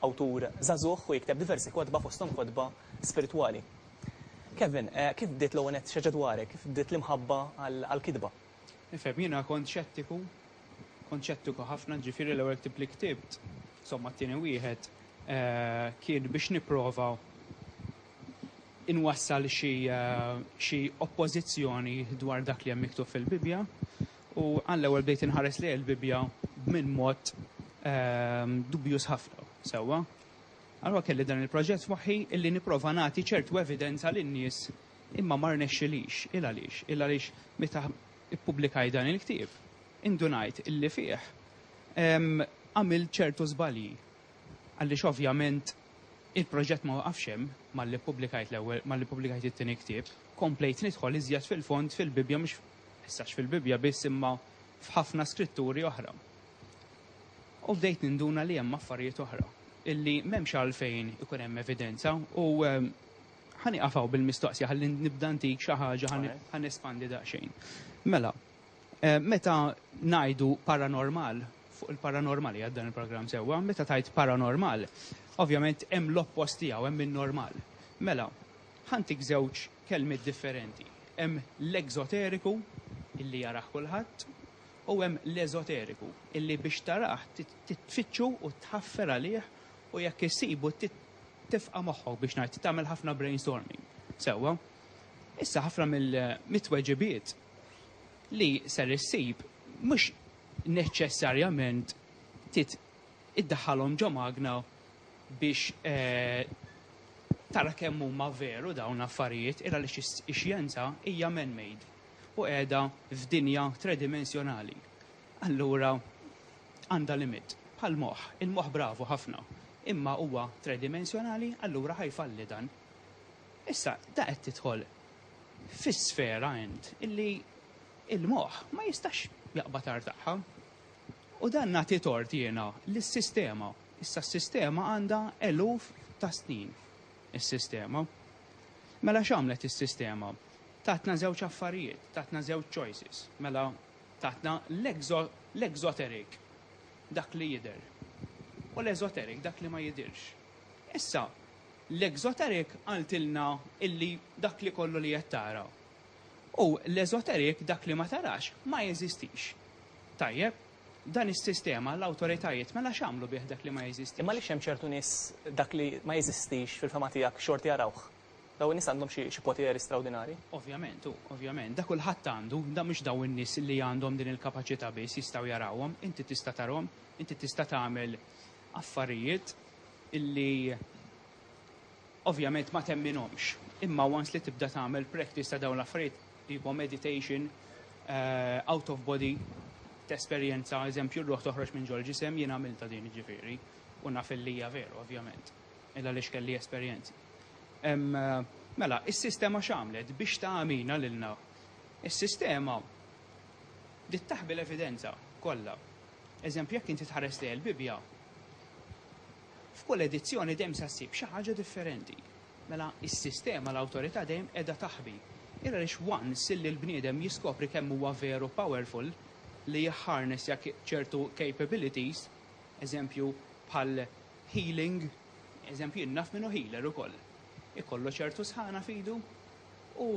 awtur żagħżugħ u jikteb diversi kotba fosthom kotba spiritwali. Kevin, kif bdiet l-ewwel nett x'ħaġa dwarek, kif bdiet l-imħabba għall-kitba? Ifhem, jiena kont xettiku, kont xettiku ħafna, jiġifieri l-ewwel ktieb li ktibt, somma t-tieni wieħed, kien biex nipprova inwassal xi xi oppożizzjoni dwar dak li hemm miktub fil-Bibbja. U għall-ewwel bdejt inħares lejn il-Bibbja minn mod dubjuż ħafna, sewwa. Allura kelli dan il-proġett f'moħħi illi nipprova nagħti ċertu evidenza lin-nies imma ma rnexxilix. Ilgħaliex? Ilgħaliex meta ppubblikajt dan il-ktieb, indunajt illi fih għamilt ċertu żbalji. Għaliex ovvjament il-proġett ma waqafx hemm malli ppubblikajt l-ewwel, malli ppubblikajt it-tieni ktieb, komplejt nidħol iżjed fil-fond fil-Bibbja mhux Mhux fil-Bibbja biss imma f'ħafna skritturi oħra. U bdejt ninduna li hemm affarijiet oħra illi m'hemmx għalfejn ikun hemm evidenza u ehm, ħa nieqaf hawn bil-mistoqsija ħalli nibda ntik xi ħaġa ħa nespandi daqsxejn. Mela, eh, meta ngħidu paranormal, fuq il-paranormali għad dan il-programm sewwa, meta tajt paranormal, ovvjament hemm l-oppost tiegħu hemm in-normal. Mela, Ħa ntik żewġ kelmiet differenti. Hemm l-ekżoteriku, illi jarah kulħadd, u hemm l-eżoteriku, illi biex tarah trid tfittxu u tħaffer għalih u jekk issibu trid tifqa' moħħok biex ngħid, trid tagħmel ħafna brainstorming. Sewwa. Issa ħafna mit-tweġibiet li ser issib mhux neċċessarjament trid iddaħħalhom ġo magna biex tara kemm huma veru dawn l-affarijiet il għaliex ix-xjenza hija man-made u qiegħda f'dinja tredimensjonali. Allura għandha limit. Bħall-moħħ. Il-moħħ bravu ħafna. Imma huwa tredimensjonali allura ħa jfalli dan. Issa da qed tidħol fi sfera int illi il-moħħ ma jistax jaqbad agħar tagħha. U dan nagħti tort jiena lis-sistema. Issa s-sistema għandha eluf ta' snin, is-sistema. Mela x'għamlet is-sistema? Tatna żewġ affarijiet, tatna żewġ choices. Mela tatna l-exoteric, dak li jidher, u l-esoteric, dak li ma jidhirx. Issa, l-exoteric qaltilna illi dak li kollu li qed tara. U l-esoteric, dak li ma tarax, ma jeżistix. Tajjeb? Dan is-sistema, l-awtoritajiet, mela x'għamlu bih dak li ma jeżistix? Imma għaliex hemm ċertu nies dak li ma jeżistix fil-fehma tiegħek xorta jarawh? Dawn in-nies għandhom xi xi poteri strawdinarji? Ovvjament, u ovvjament, da kulħadd għandu, da mhux dawn in-nies li għandhom din il-kapaċità biss jistgħu jarawhom, inti tista' tarahom, inti tista' tagħmel affarijiet li Ovvjament ma temminhomx, imma once li tibda tagħmel practice ta' dawn l-affarijiet tipo meditation, out of body, tesperjenza eżempju r-ruħ toħroġ minn ġol-ġisem, jien għamiltha din jiġifieri, u naf illi hija veru ovvjament, il għaliex kelli esperjenzi. Mela, is-sistema x'għamlet biex tagħmina lilna? Is-sistema bdiet taħbi l-evidenza kollha. Eżempju jekk inti tħares lejn il-Bibbja, F'kull edizzjoni dejjem se ssib xi ħaġa differenti. Mela, is-sistema, l-awtorità dejjem qiegħda taħbi. Hi għaliex once illi l-bniedem jiskopri kemm huwa veru powerful, li jharness jak ċertu capabilities, eżempju bħal healing, eżempju jien naf min hu healer ukoll, ikollu ċertu sħana f'idu u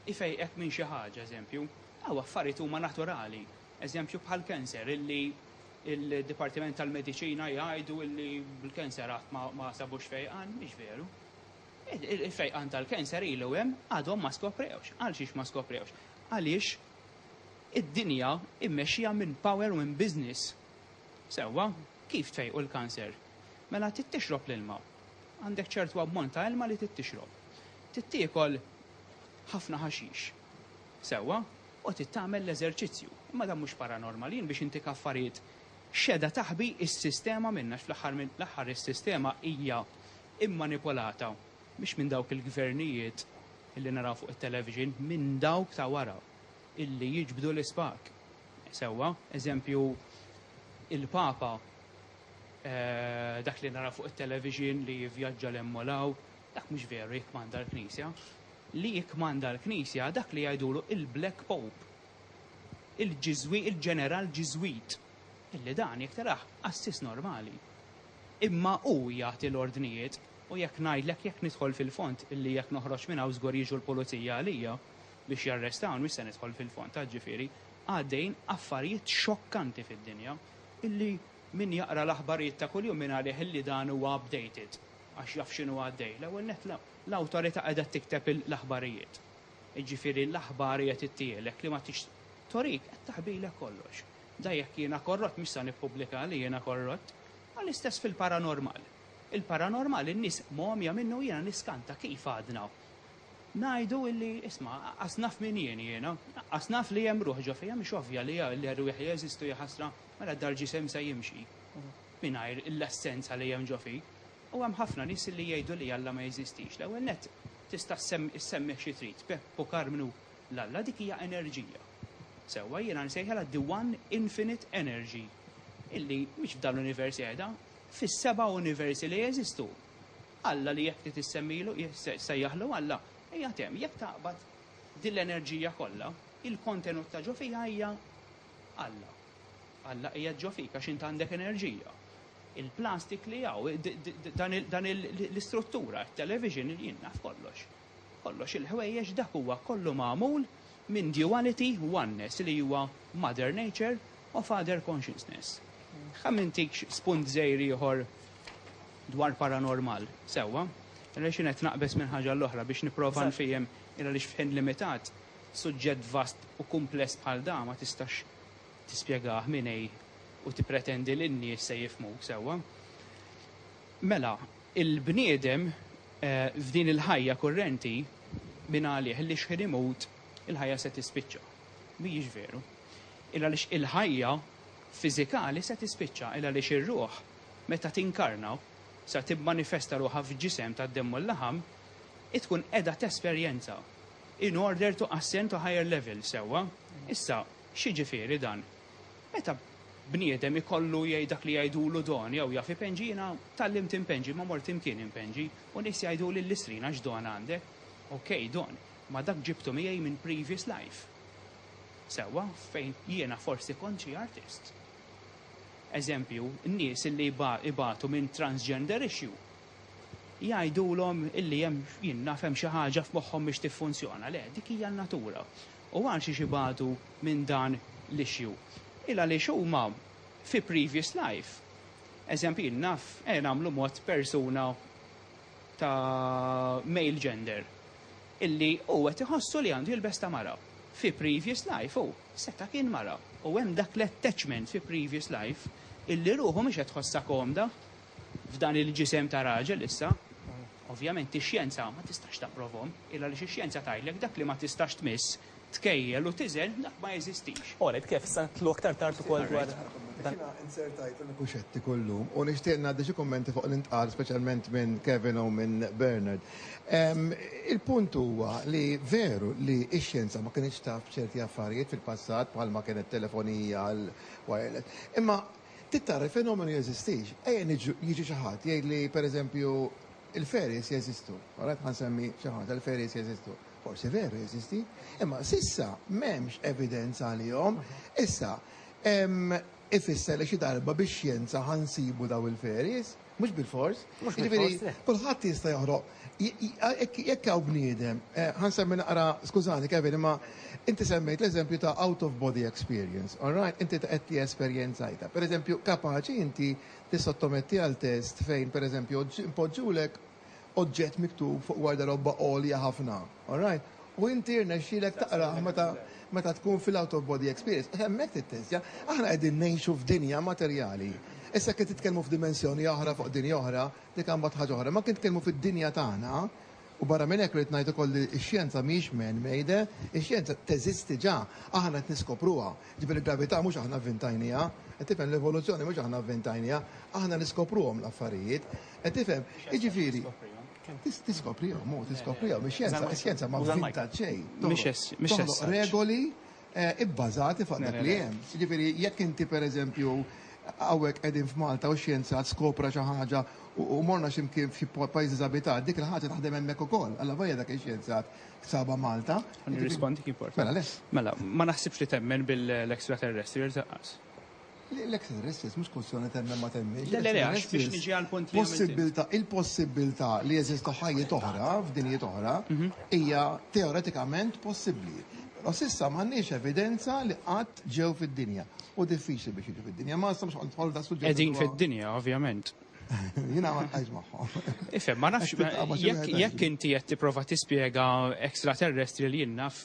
jfejqek minn xi ħaġa, eżempju. Hawn affarijiet huma naturali, eżempju bħall-cancer illi Il-Dipartiment tal-Mediċina jgħidu li bil-cancer għad ma sabux fejqan, mhix veru. Il-fejqan tal-cancer ilu hemm għadhom ma skoprewx. Għal xiex ma skoprewx? Għaliex id-dinja mmexxija minn power u minn business. Sewwa, kif tfejqu l-cancer? Mela trid tixrob l-ilma. Għandek ċertu ammont ta' ilma li trid tixrob. Trid tiekol ħafna ħaxix. Sewwa, Qgħod int tagħmel l-eżerċizzju. Imma dan mhux paranormal, jien biex intik affarijiet x'edha taħbi s-sistema minna għax fl-aħħar mill-aħħar is-sistema hija mmanipolata mhux minn dawk il-gvernijiet illi naraw fuq it-television minn dawk ta' wara illi jiġbdu l-ispak. Sewwa, eżempju il-Papa dak li naraw fuq it-television li jivvjaġġa 'l hemm u 'l hawn. Dak mhux veru jikkmanda l-Knisja. Li jikkmanda l-Knisja dak li jgħidulu il-Black Pope, il-Ġiżwi, il-Ġeneral Ġiżwit, illi dan jekk taraħ qassis normali. Imma hu jagħti l-ordnijiet u jekk ngħidlek jekk nidħol fil-fond illi jekk noħroġ minn hawn żgur jiġu l-Pulizija għalija biex jarrestawni mhux se nidħol fil-fond għax ġifieri għaddejjin affarijiet xokkanti fid-dinja illi min jaqra l-aħbarijiet ta' kuljum jien għalih illi dan huwa updated. għax jaf x'inhu għaddej. L-ewwel nett l-awtorità qiegħda tikteb l-aħbarijiet. Jiġifieri l-aħbar hija tittielek li ma tix torik qed taħbilek kollox. Da jekk jiena korrott mhux se nippubblika li jiena korrott. U l-istess fil-paranormal. Il-paranormal in-nies mogħmija minnu jiena niskanta kif għadna ngħidu illi isma' qas naf min jien jiena, qas naf li hemm ruħ ġo fija mhix ovvja li r-rwieħ jeżistu jaħasra mela d-dar ġisem se jimxi. mingħajr l-essenza li hemm ġo fik. U hemm ħafna nies li jgħidu li Alla ma jeżistix. L-ewwel nett, tista' ssemmih xi trid, Pepp u Karmnu, l-Alla dik hija enerġija. Sewwa, jiena nsejħilha the one infinite energy, illi mhix f'dan l-univers qiegħda, fis-seba' universi li jeżistu. Alla li jekk trid issemmilu, ssejjaħlu Alla, qiegħed hemm. Jekk taqbad din l-enerġija kollha, il-kontenut ta' ġo fija hija Alla. Alla qiegħed ġo fik għax int għandek enerġija. Il-plastik li hawn, dan l-istruttura, it-television, jien naf kollox. Kollox il-ħwejjeġ dak huwa kollu magħmul minn duality, oneness li huwa mother nature u father consciousness. Ħa mintikx spunt żgħir ieħor dwar paranormal, sewwa? Għaliex jien qed naqbeż minn ħaġa għal oħra biex nipprova nfiehem, għaliex f'ħin limitat, suġġett vast u kumpless bħal dan ma tistax tispjegah min hi u tippretendi li n-nies se jifhmuk sewwa. Mela, il-bniedem f'din il-ħajja kurrenti mingħalih li xħin imut il-ħajja se tispiċċa. Mhijiex veru. Il-għaliex il-ħajja fiżikali se tispiċċa, il-għaliex ir-ruħ meta tinkarna, sa tibmanifesta ruħha f'ġisem tad-demm u l-laħam, hi tkun qiegħda tesperjenza In order to ascend to higher level, sewwa. Issa, x'jiġifieri dan? Meta bniedem ikollu jgħid dak li jgħidulu don jew jaf ipenġi, jiena tgħallimt impenġi, imma mort imkien impenġi, u nies jgħiduli l-listrina x'don għandek? Ok, don, ma dak ġibtu miegħi minn previous life. Sewwa, fejn jiena forsi kont xi artist. Eżempju, nies li ibatu minn transgender issue, jgħidulhom illi hemm, jien naf, hemm xi ħaġa f'moħħhom biex tiffunzjona. Le, dik hija n-natura. U għalxiex ibatu minn dan l-issue? Il għaliex huma fi previous life, eżempju jien naf, ejja nagħmlu mod persuna ta' male gender, illi hu qed iħossu li għandu jilbes ta' mara. Fi previous life hu seta' kien mara u hemm dak l-attachment fi previous life illi ruħu mhix qed tħossha komda f'dan il-ġisem ta' raġel issa, ovvjament ix-xjenza ma tistax tapprovhom, il għaliex ix-xjenza tgħidlek dak li ma tistax tmiss, tkejjel u tiżen dak ma jeżistix. Alright, kif, issa nidħlu aktar tard ukoll dwar dan. Jiena inzertajt li nkun xettiku llum u nixtieq ngħaddi xi kummenti fuq li ntqal speċjalment minn Kevin u minn Bernard. Il-punt huwa li veru li x-xjenza ma kinitx taf b'ċerti affarijiet fil-passat bħalma kienet telefonija, il-wireless, imma Trid tara l-fenomenu jeżistix. Ejja niġu, jiġi xi ħadd jgħidli, per eżempju, il-fairies jeżistu. All right, ħa nsemmi xi ħaġa, il-fairies jeżistu. Forsi veru jeżisti, imma s'issa m'hemmx evidenza għalihom. Issa, ifisser li xi darba bix-xjenza ħa nsibu dawn il-fairies? Mhux bilfors. Mhux bilfors. Jiġifieri kulħadd jista' joħroq. Jekk hawn bniedem, eh, ħa nsemmi naqra, skużani Kevin, imma inti semmejt l-eżempju ta' out of body experience, all right? Inti qed li esperjenzajta. Pereżempju, kapaċi inti tissottometti għal test fejn pereżempju impoġġulek oġġett miktub fuq warda robba għolja ħafna. All right? U inti jirnexxilek taqrah meta meta tkun fil-out of body experience. Hemmhekk tittestja. Aħna qegħdin ngħixu f'dinja materjali. Issa kien titkellmu f'dimensjoni oħra fuq dinja oħra, dik imbagħad ħaġa oħra. Imma kien titkellmu fid-dinja tagħna, u barra minn hekk rrid ngħid ukoll li x-xjenza mhijiex man made, ix-xjenza teżisti ġa, aħna qed niskopruha. Jiġifieri l-gravità mhux aħna vvintajnieha, qed tifhem, l-evoluzzjoni mhux aħna vvintajnieha, aħna niskopruhom l-affarijiet. Qed tifhem? Jiġifieri. Tiskoprihom, hu, tiskoprihom. Ix-xjenza, ix-xjenza ma bżonn ta' xejn. Toħloq regoli bbażati fuq dak li hemm. Jiġifieri jekk inti pereżempju hawnhekk qegħdin f'Malta u xjenzat skopra xi ħaġa u morna xi mkien f'xi pajjiż diżabitat, dik il-ħaġa taħdem hemmhekk ukoll. Allavolja dak ix-xjenzat sabha Malta. Ħa nirrispondi kif importa. Mela, lest. Mela, ma naħsibx li temmen bil-extraterrestrials lanqas. L-exit restis mhux kwistjoni temmen ma temmiex. Le, le, le, għax biex niġi għal punt li possibilità, il-possibilità li jeżistu ħajjiet oħra, f'dinjiet oħra, mhm. hija teoretikament possibbli. Però sissa m'għandniex evidenza li qatt ġew fid-dinja. U diffiċli biex jiġu fid-dinja, ma nistax nħollu da suġġett. Qegħdin fid-dinja, ovvjament. Jina ma nqajx maħħom. Ifem, ma nafx, jekk inti qed tipprova tispjega extraterrestri li jinnaf,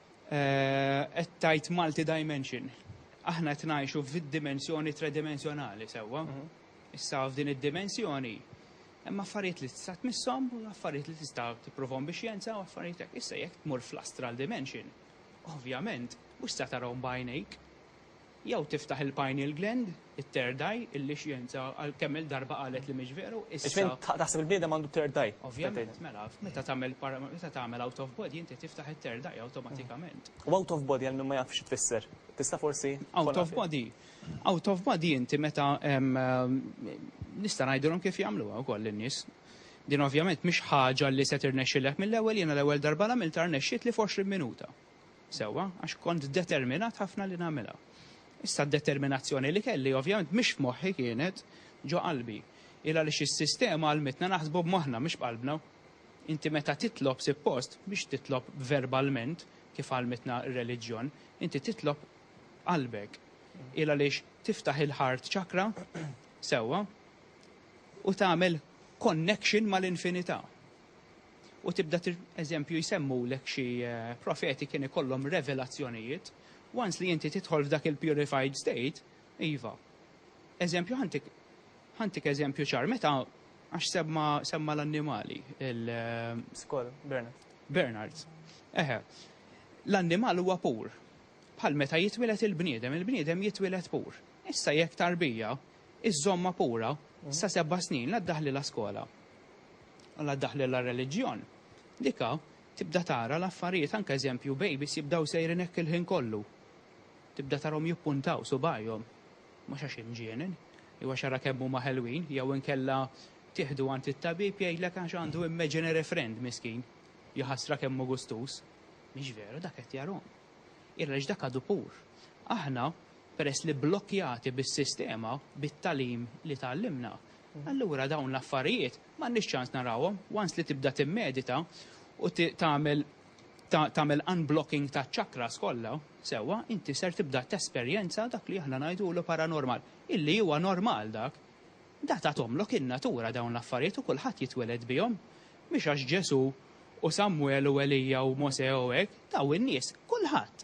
Qed tgħid multidimension. Aħna qed ngħixu fid-dimensjoni tredimensjonali, sewwa? Issa f'din id-dimensjoni hemm affarijiet li tista' tmisshom, affarijiet li tista' tipprovahom bix-xjenza u affarijiet hekk. Issa jekk tmur fl-astral dimension, ovvjament mhux se tarahom b'għajnejk. Jew tiftaħ il-pineal gland, it-third eye, illi xjenza għal kemm-il darba qalet li mhix veru, issa. Iż-żmien taħseb il-bniedem għandu third eye. Ovvjament, mela, meta tagħmel para, meta tagħmel out of body inti tiftaħ it-third eye awtomatikament. U out of body għal min ma jafx xi tfisser, tista' forsi tkollha fil-. Out of body, out of body inti meta, nista' ngħidilhom kif jagħmluha wkoll lin-nies. Din ovvjament mhix ħaġa li se tirnexxilek mill-ewwel, jiena l-ewwel darba l-għamiltha rnexxietli f'għoxrin minuta. Sewwa, għax kont determinat ħafna li nagħmilha. Issa d-determinazzjoni li kelli ovvjament mhix f'moħħi kienet ġo qalbi. Hi għaliex is-sistema għallmitna naħsbu b'moħħna mhux b'qalbna. Inti meta titlob sippost mhux titlob verbalment kif għallmitna r-reliġjon, inti titlob b'qalbek. Hi għaliex tiftaħ il-heart chakra, sewwa, u tagħmel connection mal-infinità. u tibda tir eżempju jsemmulek xi profeti kien ikollhom revelazzjonijiet, once li inti tidħol f'dak il-purified state, iva. Eżempju ħantik ħantik eżempju ċar, meta għax semma semma l-annimali, il- Skoll, Bernard. Bernard. Eħe. L-annimal huwa pur. Bħal meta jitwieled il-bniedem, il-bniedem jitwieled pur. Issa jekk tarbija iżżommha pura sa sebgħa snin la ddaħħlilha skola. Alla daħlilha r-reliġjon. Dik hawn tibda tara l-affarijiet anke eżempju babies jibdew sejrin hekk il-ħin kollu. Tibda tarahom jippuntaw subajhom. Mhux għax imġienen. Jew għax ara kemm huma ħelwin jew inkella tieħdu għand it-tabib jgħidlek għax għandu imaginary friend miskin. Jaħasra kemm hu gustuż. Mhix veru dak qed jarahom. Ira għaliex dak għadu pur. Aħna peress li blokkjati bis-sistema, bit-tagħlim li tgħallimna, Allura dawn l-affarijiet m'għandniex ċans narawhom, once li tibda timmedita u tagħmel tagħmel unblocking taċ-chakras kollha, sewwa, inti ser tibda tesperjenza dak li aħna ngħidulu paranormal, illi huwa normal dak. Da tathomlok in-natura dawn l-affarijiet u kulħadd jitweled bihom. Mhix għax Ġesù u Samwel u Elija u Mosè u hekk, daw in-nies, kulħadd.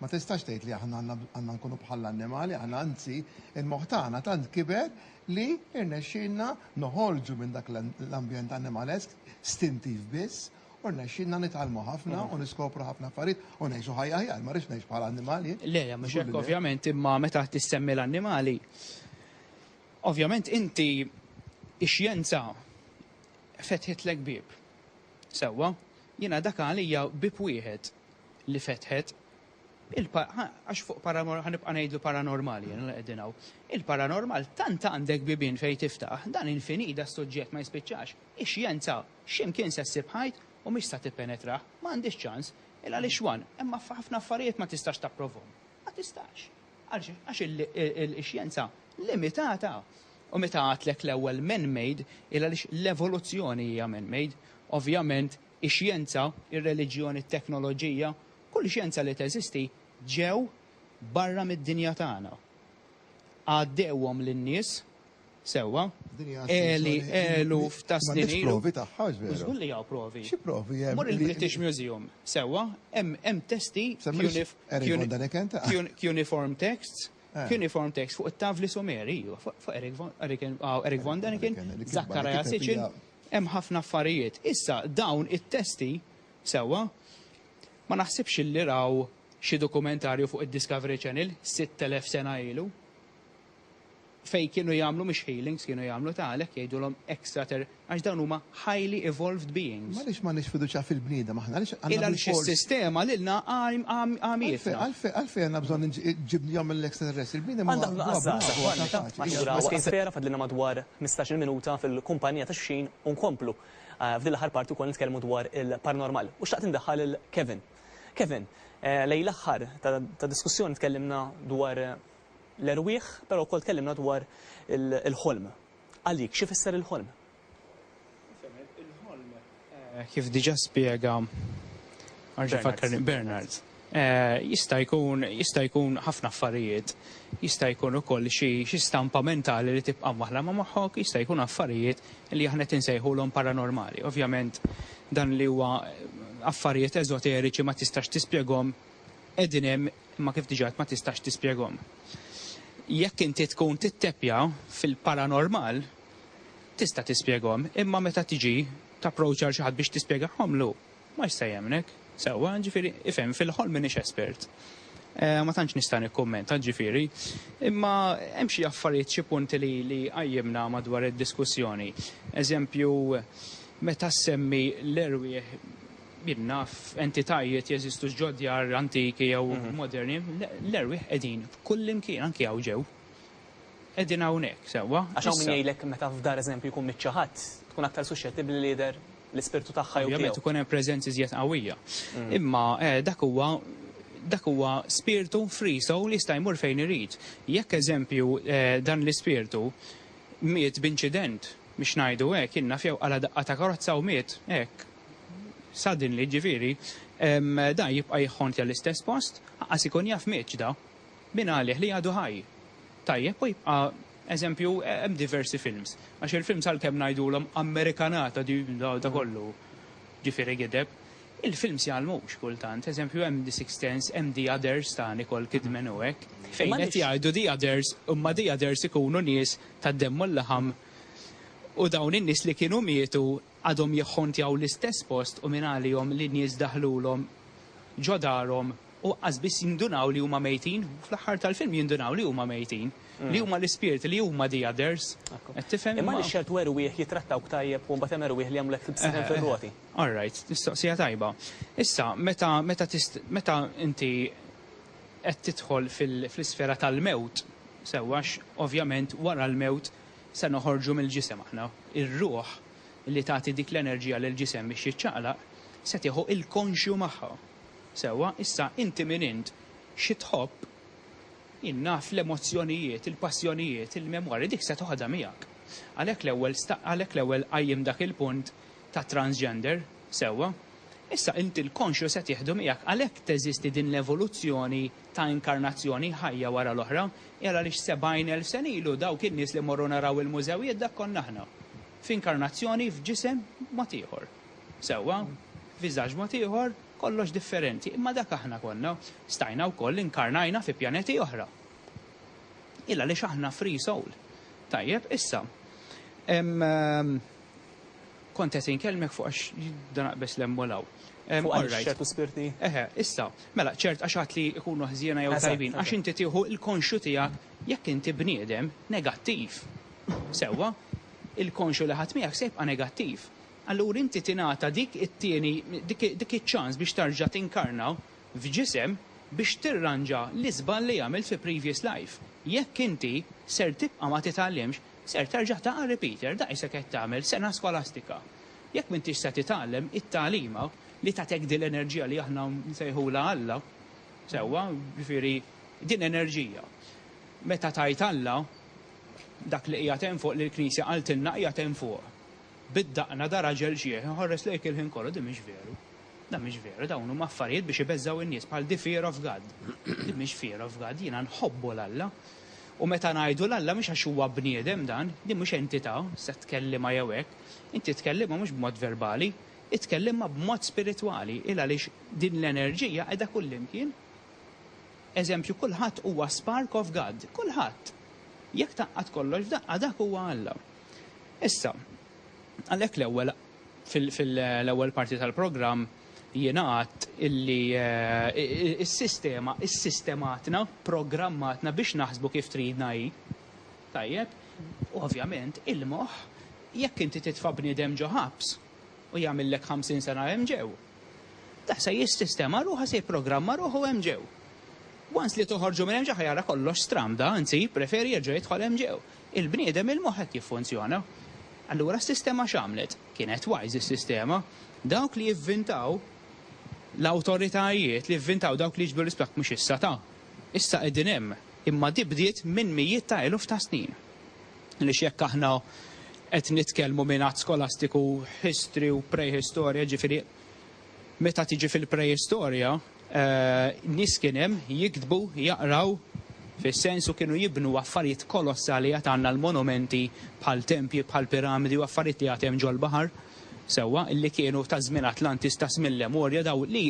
Ma tistax tgħid li aħna għandna nkunu bħall-annimali, aħna anzi l-moħħ tagħna tant kiber li rnexxielna noħorġu minn dak l-ambjent annimalesk stintiv biss u rnexxielna nitgħallmu ħafna u niskopru ħafna affarijiet u ngħixu ħajja aħjar. Ma rridx ngħix bħala annimal jien. Le, le, mhux hekk ovvjament, imma meta qed issemmi l-annimali, ovvjament inti x-xjenza fetħitlek bieb. Sewwa, jiena dak għalija bieb wieħed li fetħet għax fuq paranormal, ħanibqa' ngħidlu paranormali jien li qegħdin hawn. Il-paranormal tant għandek bibien fejn tiftaħ, dan infinit da suġġett ma jispiċċax. Ix-xjenza x'imkien se ssib ħajt u mhix sa tippenetrah, ma għandhiex ċans. Il għaliex one, hemm ħafna affarijiet ma tistax tapprovhom. Ma tistax. Għaliex għax il-xjenza limitata. U meta għedtlek l-ewwel man-made, il għaliex l-evoluzzjoni hija man-made, ovvjament ix-xjenza, ir-reliġjon, it-teknoloġija, kull xjenza li teżisti, ġew barra mid-dinja tagħna. Għaddewhom lin-nies, sewwa, għeli eluf ta' snin ilu. M'għandekx provi tagħha, mhux veru? Żgur li hawn provi. Xi provi hemm? Mur il-British Museum, sewwa, hemm testi cuneiform texts, cuneiform texts fuq it-tavli Sumeri, iva, fuq Eric von Däniken, Zachariah Sitchin, Hemm ħafna affarijiet. Issa, dawn it-testi, sewwa, ma naħsibx li raw xi dokumentarju fuq id-Discovery Channel sitt elef sena ilu fejn kienu jagħmlu mhux healings kienu jagħmlu ta' għalhekk jgħidulhom extra ter għax dawn huma highly evolved beings. M'għaliex m'għandniex fiduċja fil-bniedem aħna? Għaliex għandna bilfors. Il-għaliex is-sistema lilna għamietna. Għalfejn għalfejn għandna bżonn ġibnihom mill-extraterrestri? Il-bniedem huwa bravu, huwa kapaċi. Għandna bżonn inqażżu għas-saħħa tagħna. Tant ma tkunx vera, fadlilna madwar ħmistax-il minuta fil-kumpanija ta' xulxin u nkomplu f'din l-aħħar parti wkoll nitkellmu dwar il-paranormal. U xtaqt indaħħal lil Kevin. Kevin, lejn l-aħħar tad-diskussjoni tkellimna dwar l-erwieħ, però wkoll tkellimna dwar il-ħolm. Għalik, x'ifisser il-ħolm? Il-ħolm, kif diġà spjega Bernard, jista' jkun jista' jkun ħafna affarijiet. Jista' jkun ukoll xi xi stampa mentali li tibqa' mwaħħla ma' moħħok, jista' jkun affarijiet li aħna qed insejħulhom paranormali. Ovvjament dan li huwa affarijiet eżoteriċi ma tistax tispjegahom, qegħdin hemm imma kif diġà għedt ma tistax tispjegahom. Jekk inti tkun titteppja fil-paranormal, tista' tispjegahom, imma meta tiġi tapproach għal xi ħadd biex tispjegahomlu, ma jista' jemmnek. Sewwa, ġifieri, ifhem, fil-ħolm m'iniex espert. Ma tantx nista' nikkummenta, ġifieri. Imma hemm xi affarijiet, xi punti li li qajjimna madwar id-diskussjoni. Eżempju, meta ssemmi l-erwieħ, jien naf entitajiet jeżistu ġo djar antiki jew moderni, l-erwieħ qegħdin kullimkien, anki hawn ġew. Qegħdin hawnhekk, sewwa. Għax hawn min jgħidlek meta f'dar eżempju jkun miet xi ħadd, tkun aktar suxxettibbli li jidher l-ispirtu tagħha jew tiegħu. Ovvjament ikun hemm preżenza iżjed qawwija. Imma dak huwa dak huwa spirtu free soul jista' jmur fejn irid. Jekk eżempju dan l-ispirtu miet b'inċident, biex ngħidu hekk, jien naf jew qala' daqqa ta' karozza u miet hekk suddenly, ġifieri, dan jibqa' jħontja l-istess post, anqas ikun jaf mietx da. Min qalih li għadu ħaj? Tajjeb u jibqa' eżempju hemm diversi films. Għax il-films għalkemm ngħidulhom Amerikanata di da kollu ġifieri gideb, il-films jgħallmux kultant. Eżempju hemm The Sixth Sense, hemm The Others ta' Nicole Kidman u hekk. Fejn qed jgħidu The Others, imma The Others ikunu nies tad-demm u l-laħam u dawn in-nies li kienu mietu għadhom jikħontjaw l-istess post u min għalihom li nies daħlulhom ġo darhom u aqqas biss jindunaw li huma mejtin, fl-aħħar tal-film jindunaw li huma mejtin, li huma l-ispirti, li huma the others. Qed tifhem? Imma għaliex ċertu erwieħ jittrattawk tajjeb u mbagħad hemm erwieħ li jagħmlulek tibsibhom fir-roti? All right, mistoqsija tajba. Issa, meta, meta tist, meta inti qed tidħol fil, fl-isfera tal-mewt, sewwa, għax ovvjament wara l-mewt se noħorġu mill-ġisem aħna, ir-ruħ li tagħti dik l-enerġija lill-ġisem biex jiċċaqlaq se tieħu l-konxju magħha. Sewwa, issa inti min int, xi tħobb, jien naf l-emozzjonijiet, il-passjonijiet, il-memorji, dik se toħodha miegħek. Għalhekk l-ewwel sta, għalhekk l-ewwel qajjimt dak il-punt tat-transgender, sewwa. Issa inti l-konxju se tieħdu miegħek, għalhekk teżisti din l-evoluzzjoni ta' inkarnazzjoni, ħajja wara l-oħra, hi għaliex 70 elf sena ilu dawk in-nies li mmorru naraw il-mużewijiet dak konna aħna. F'inkarnazzjoni, f'ġisem mod ieħor. Sewwa? F'viżaġġ mod ieħor. Kollox differenti, imma dak aħna konna. Stajna wkoll inkarnajna fi pjaneti oħra. Il għaliex aħna free soul. Tajjeb, issa, ehm, kont qed inkellmek fuq għax jibda naqbeż l hemm u l hawn. Ehm, all right. ċertu spirti? Eħe, issa, mela, ċert għax għad li jkunu ħżiena jew tajbin, għax inti tieħu l-konxju tiegħek jekk inti bniedem negattiv. Sewwa? Il-konxju li ħadt miegħek se jibqa' negattiv. Allura inti tingħata dik it-tieni, dik iċ-ċans biex terġa' tinkarna f'ġisem biex tirranġa l-iżball li għamilt fi previous life. Jekk inti ser tibqa' ma titgħallimx, ser terġa' taqa' repeater, dak se qed tagħmel, sena skolastika. Jekk m'intix se titgħallem, it-tagħlima li tagħtek din l-enerġija li aħna nsejħulha Alla, sewwa, ġifieri din enerġija. Meta tgħid Alla, dak li qiegħed hemm fuq li l-Knisja qaltilna qiegħed hemm fuq. Bid-daqna ta' raġel ġieħ inħorres lejk il-ħin kollu, din mhix veru. Dan mhix veru, dawn huma affarijiet biex ibeżżgħu n-nies bħal the fear of God. Din mhix fear of God, jiena nħobbu 'l Alla. U meta ngħidu 'l Alla mhux għax huwa bniedem dan, din mhux entità, se tkellimha jew hekk. Inti tkellimha mhux b'mod verbali, itkellimha b'mod spiritwali, il għaliex din l-enerġija qiegħda kullimkien. Eżempju, kulħadd huwa spark of God, kulħadd. Jekk tgħaqqad kollox f'daqqa dak huwa Alla. Issa, għalhekk l-ewwel, fil-ewwel parti tal-programm jingħad illi s-sistema issistematna, programmatna biex naħsbu kif tridna hi. Tajjeb? U ovvjament il-moħħ jekk inti titfa' bniedem ġo ħabs u jagħmillek ħamsin sena hemm ġew, dak se jissistema ruħu, se jipprogramma ruħu hemm ġew. Once li toħorġu minn hemm ġew ħa jara kollox stramda, anzi jippreferi jerġa' jidħol hemm ġew. Il-bniedem il-moħħ hekk jiffunzjona. Allura s-sistema x'għamlet? Kienet wise is-sistema. Dawk li jivvintaw l-awtoritajiet li jivvintaw dawk li jiġbdu l-isplakk mhux issa ta'. Issa qegħdin hemm. Imma di bdiet minn mijiet ta' eluf ta' snin. Għaliex jekk aħna qed nitkellmu minn att skolastiku history u prehistorja jiġifieri meta tiġi fil-prehistorja, Nies kien hemm jiktbu, jaqraw, fis-sens u kienu jibnu affarijiet kolossali għad għandna l-monumenti bħal tempji, bħal piramidi u affarijiet li għad hemm ġol-baħar, sewwa, li kienu ta' żmien Atlantis ta' żmien Lemurja daw li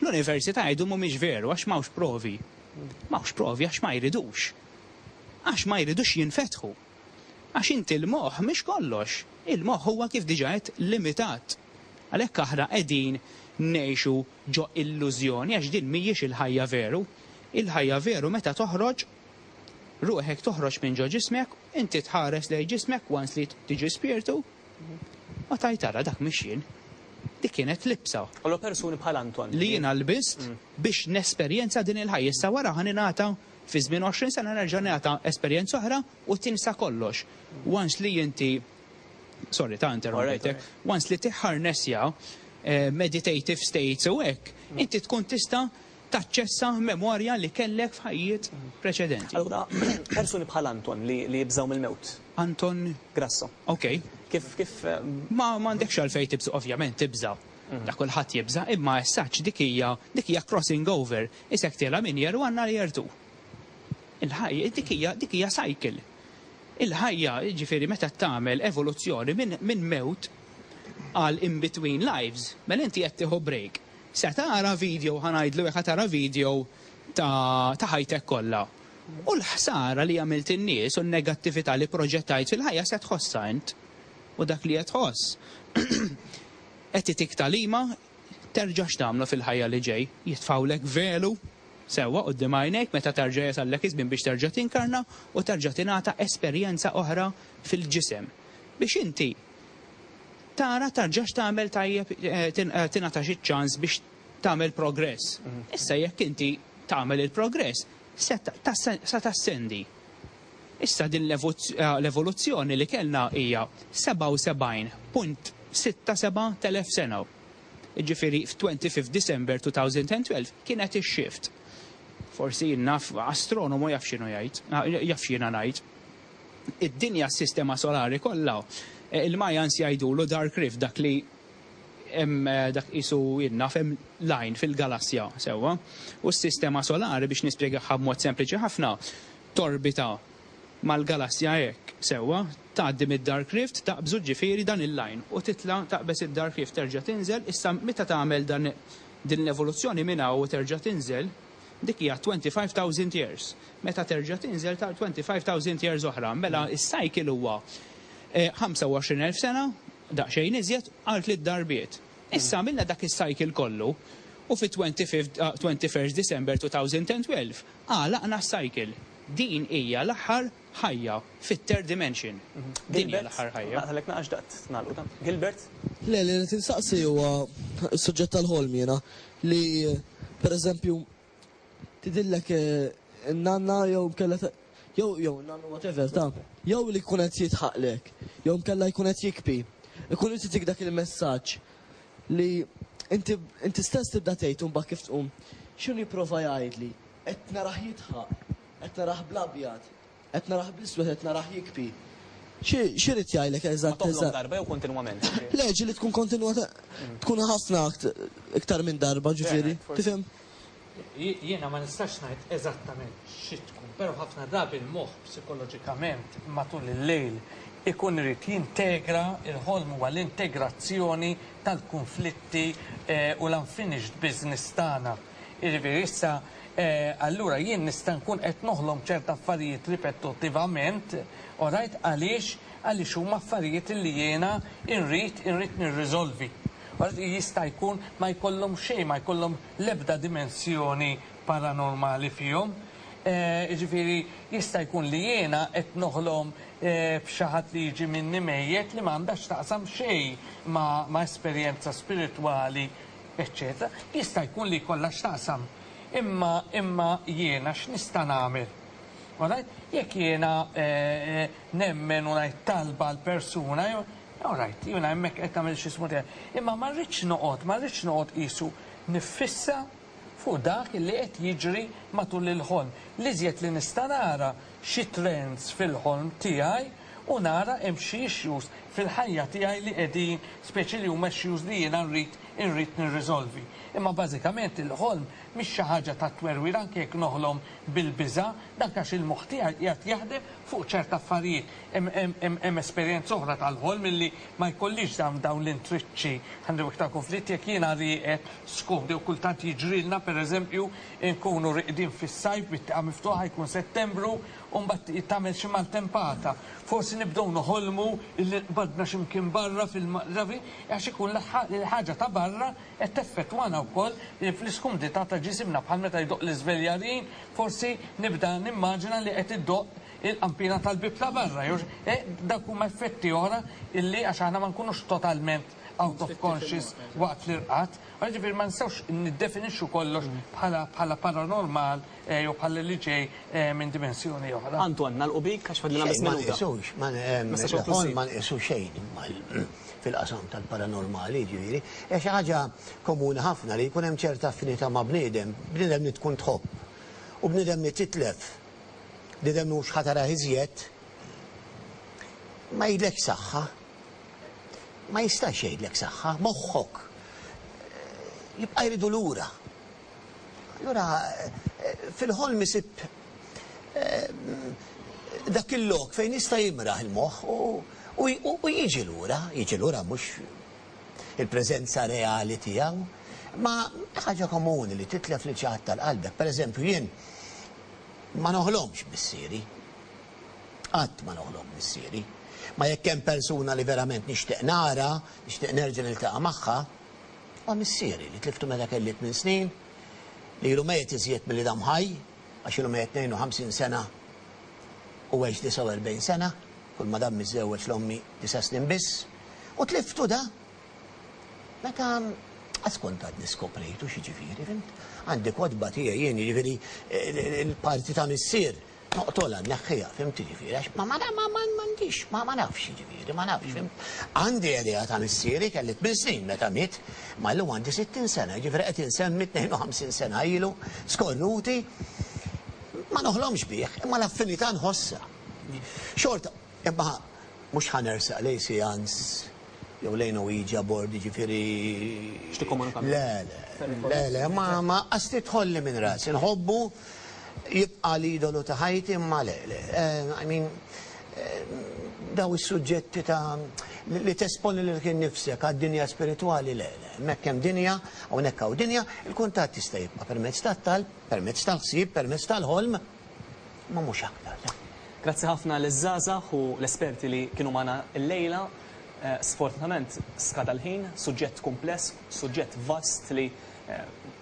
l-università jgħidu mhumiex veru għax m'hawnx provi. M'hawnx provi għax ma jridux. Għax ma jridux jinfetħu. Għax inti l-moħħ mhix kollox. Il-moħħ huwa kif diġà għedt limitat. Għalhekk aħna qegħdin ngħixu ġo illużjoni għax din mhijiex il-ħajja veru. Il-ħajja veru meta toħroġ ruħek toħroġ minn ġo ġismek, inti tħares lejn ġismek once li tiġi spirtu u tgħid ara dak mhix jien. Dik kienet libsa. Allura persuni bħal Anton. Li jiena lbist biex nesperjenza din il-ħajja. Issa wara ħa ningħata Fi żmien 20 sena nerġa' ngħata esperjenza oħra u tinsa kollox. Once li inti, sorry ta' interrompejtek, once li tiħħarnessja meditative states u hekk, inti tkun tista' taċċessa memorja li kellek f'ħajjiet preċedenti. Allura, persuni bħal Anton li jibżgħu mill-mewt. Anton? Grasso. Ok. Kif, kif. Ma m'għandekx għalfejn tibża', ovvjament tibża'. Ta' kulħadd jibża', imma as such dik hija, dik hija crossing over. Isektilha min jeru għan-nar jertu. Il-ħajja, dik hija, dik hija cycle. Il-ħajja, jiġifieri meta tagħmel evoluzzjoni minn, minn mewt għal in between lives, mela inti qed tieħu break. Se tara video, ħa ngħidlu hekk, ħa tara video ta', ta' ħajtek kollha. U l-ħsara li għamilt in-nies u n-negattività li proġettajt fil-ħajja se tħossha int. U dak li qed tħoss qed itik tagħlima terġax tagħmlu fil-ħajja li ġej. Jitfgħulek velu sewwa quddiem għajnejk meta terġa' jasallek iż-żmien biex terġa' tinkarna u terġa' tingħata esperjenza oħra fil-ġisem biex inti tara terġax tagħmel tajjeb tingħatax iċ-ċans biex tagħmel progress. Issa jekk inti tagħmel il-progress se tassendi Issa din l-evoluzzjoni li kellna hija 77.67 telef sena. Jiġifieri f'25 December 2012 kienet ix-shift. Forsi jien naf, astronomu jaf x'inhu jgħid, jaf x'jiena ngħid. Id-dinja s-sistema solari kollha, il-Mayans jgħidulu dark rift dak li hemm dak qisu jien naf hemm lajn fil-galassja, sewwa? U s-sistema solari biex nispjegahha b'mod sempliċi ħafna, torbita mal-galassja hekk sewwa, tgħaddi mid-dark rift, taqbżu ġifieri dan il-line u titla' taqbeż id-dark rift terġa' tinżel, issa meta tagħmel dan din l-evoluzzjoni minn hawn u terġa' tinżel, dik hija twenty five thousand years, meta terġa' tinżel ta' twenty five thousand years oħra, mela s-cycle huwa ħamsa u għoxrin elf sena, daqsxejn iżjed, għal tliet darbiet. Issa għamilna dak is-cycle kollu u fit-twenty fifth twenty first December two thousand and twelve, Għalaqna s-cycle. Din hija l-aħħar ħajja fit-third dimension. Din hija l-aħħar ħajja. Gilbert, naqtagħlek naqax xtaqt nagħlqu dan. Gilbert? Le, li rrid insaqsi huwa s-suġġett tal-ħolm jiena, li pereżempju tidhirlek in-nanna jew inkella jew jew in-nannu whatever ta' jew li jkun qed jidħaqlek jew inkella jkun qed jikbi, ikun irid itik dak il-messaġġ. Li inti inti stess tibda tgħid u mbagħad kif tqum. X'inhu jipprova jgħidli? Qed narah jidħaq, qed narah bl-abjad, qed narah bl-iswed, qed narah jikbi. Xi xi jrid jgħidlek eżatt eżatt? Ma tgħidlhom darba jew kontinwament? Le, ġieli tkun kontinwata tkun ħafna iktar minn darba, ġifieri, tifhem? Jiena ma nistax ngħid eżattament xi tkun, però ħafna drabi l-moħħ psikoloġikament matul il-lejl ikun irid jintegra, il-ħolm huwa l-integrazzjoni tal-kunflitti u l-unfinished business tagħna. Jiġifieri issa allura jien nista' nkun qed noħlom ċert affarijiet ripetuttivament, orajt, għaliex? Għaliex huma affarijiet li jiena nrid, irrid nirriżolvi. Jista' jkun ma jkollhom xejn, ma jkollhom, l-ebda dimensjoni paranormali fihom. Jiġifieri jista' jkun li jiena qed noħlom b'xi ħadd li jiġi minni mejjet li ma għandha x'taqsam xejn ma' esperjenza spiritwali eċċetera. Jista' jkun li jkollha x'taqsam. Imma imma jiena x'nista' nagħmel? All right? Jekk jiena nemmen u ngħid talba għall-persuna jew All right, jiena hemmhekk qed nagħmel x'ismu tiegħi. Imma ma rridx noqgħod, ma rridx noqgħod qisu niffissa fuq dak li qed jiġri matul il-ħolm. L-iżjed li nista' nara xi trends fil-ħolm tiegħi u nara hemm xi issues fil-ħajja tiegħi li qegħdin, speċi li huma issues li jiena nrid irrid nirriżolvi. Imma bażikament il-ħolm mhix xi ħaġa ta' twerwir anke jekk noħlom bil-biża', dan għax il-moħħ tiegħi qiegħed jaħdem fuq ċert affarijiet. Hemm esperjenza oħra tal-ħolm illi ma jkollix dawn l-intriċċi. Għandu iktar kunflitt jekk jiena rieqed skumd jew kultant jiġrilna pereżempju nkunu rieqdin fis-sajf bit-tieqa miftuħa jkun Settembru u mbagħad tagħmel xi maltempata. Forsi nibdew noħolmu illi qbadna xi mkien barra fil-Malta għax ikun l-ħaġa ta' barra qed teffettwana wkoll fl-iskumdità ta' ġisimna bħal meta jdoqq l-iżveljarin forsi nibda nimmaġina li qed idoqq il-qanpiena tal-bieb ta' barra, jew dawk huma effetti oħra illi għax aħna ma nkunux totalment out of conscious waqt l-irqad, allura ġifieri ma nistgħux niddefinixxu kollox bħala paranormal jew bħala li ġej minn dimensjoni oħra. Antoine, nagħlqu bik għax fadlilna biss minuta. Xejn, il-ħolm ma nqisu xejn fil-qasam tal-paranormali, jiġifieri hija xi ħaġa komuni ħafna li jkun hemm ċerta affinità ma' bniedem, bniedem li tkun tħobb u bniedem li titlef. li dan hu x'ħa tarah iżjed, ma jgħidlekx saħħa. Ma jistax jgħidlek saħħa, moħħok jibqa' jridu lura. Allura fil-ħolm isib dak il-lok fejn jista' jimraħ il-moħħ u jiġi lura, jiġi lura mhux il-preżenza reali tiegħu. Ma hi ħaġa komuni li titlef lil xi ħadd tal-qalbek. Pereżempju, jien ma noħlomx missieri. Qatt ma noħlom missieri. Ma jekk hemm persuna li verament nixtieq nara, nixtieq nerġa' niltaqa' magħha, huwa missieri li tliftu meta kelli tmien snin, li ilu mejjet iżjed milli dam ħaj, għax ilu mejjet 52 sena u għex 49 sena, kulma dam miżżewweġ l-ommi disa' snin biss. U tliftu da? Meta Askolta għadni skoprejtu x'jiġifieri, fimt? Għandi kotba tiegħi jien jiġifieri l-parti ta' missier noqtolha nneħħiha, fimt jiġifieri għax ma ma ma ma m'għandix ma ma nafx jiġifieri ma nafx fimt. Għandi idea ta' missieri kelli tmien snin meta miet, ma llum għandi sittin sena jiġifieri qed insemmi tnejn u ħamsin sena ilu skornuti ma noħlomx bih imma l-affinità nħossha. Xorta Imma mhux ħa nersaq lejn Seance jew lejn Ouija board, jiġifieri. X'tikkomunika miegħi? Le, le, le, le, ma, ma, qas tidħolli minn rasi. Nħobbu, jibqa' l-idolu ta' ħajti imma le, le, I mean, dawn is-suġġetti ta' li tesponi lilek innifsek għad-dinja spiritwali, le, le, hemmhekk hemm dinja, hawnhekk hawn dinja, il-kuntatt jista' jibqa' permezz tat-talb, permezz tal-ħsieb, permezz tal-ħolm. imma mhux aktar. Grazzi ħafna liż-żgħażagħ u l-esperti li kienu magħna llejla. Sfortunatament skada l-ħin, suġġett kumpless, suġġett vast li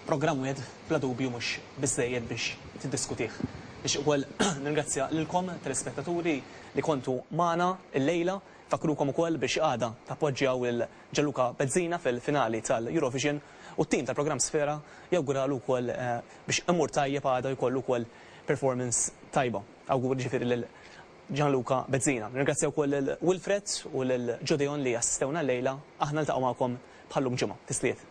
programm wieħed bla dubju mhux biżżejjed biex tiddiskutih. Nixtieq ukoll nirringrazzja lilkom telespettaturi li kontu magħna llejla. Nfakrukom ukoll biex għada tappoġġjaw il- Gianluca Bezzina fil-finali tal-Eurovision u t-tim tal-programm Sfera jawguralu wkoll biex imur tajjeb għada u jkollu wkoll performance tajba. Awguri ġifieri lil Gianluca Bezzina. Nirringrazzja wkoll lil Wilfred u lil Gedeon li assistewna llejla. Aħna niltaqgħu magħkom bħal llum ġimgħa. Tisliet.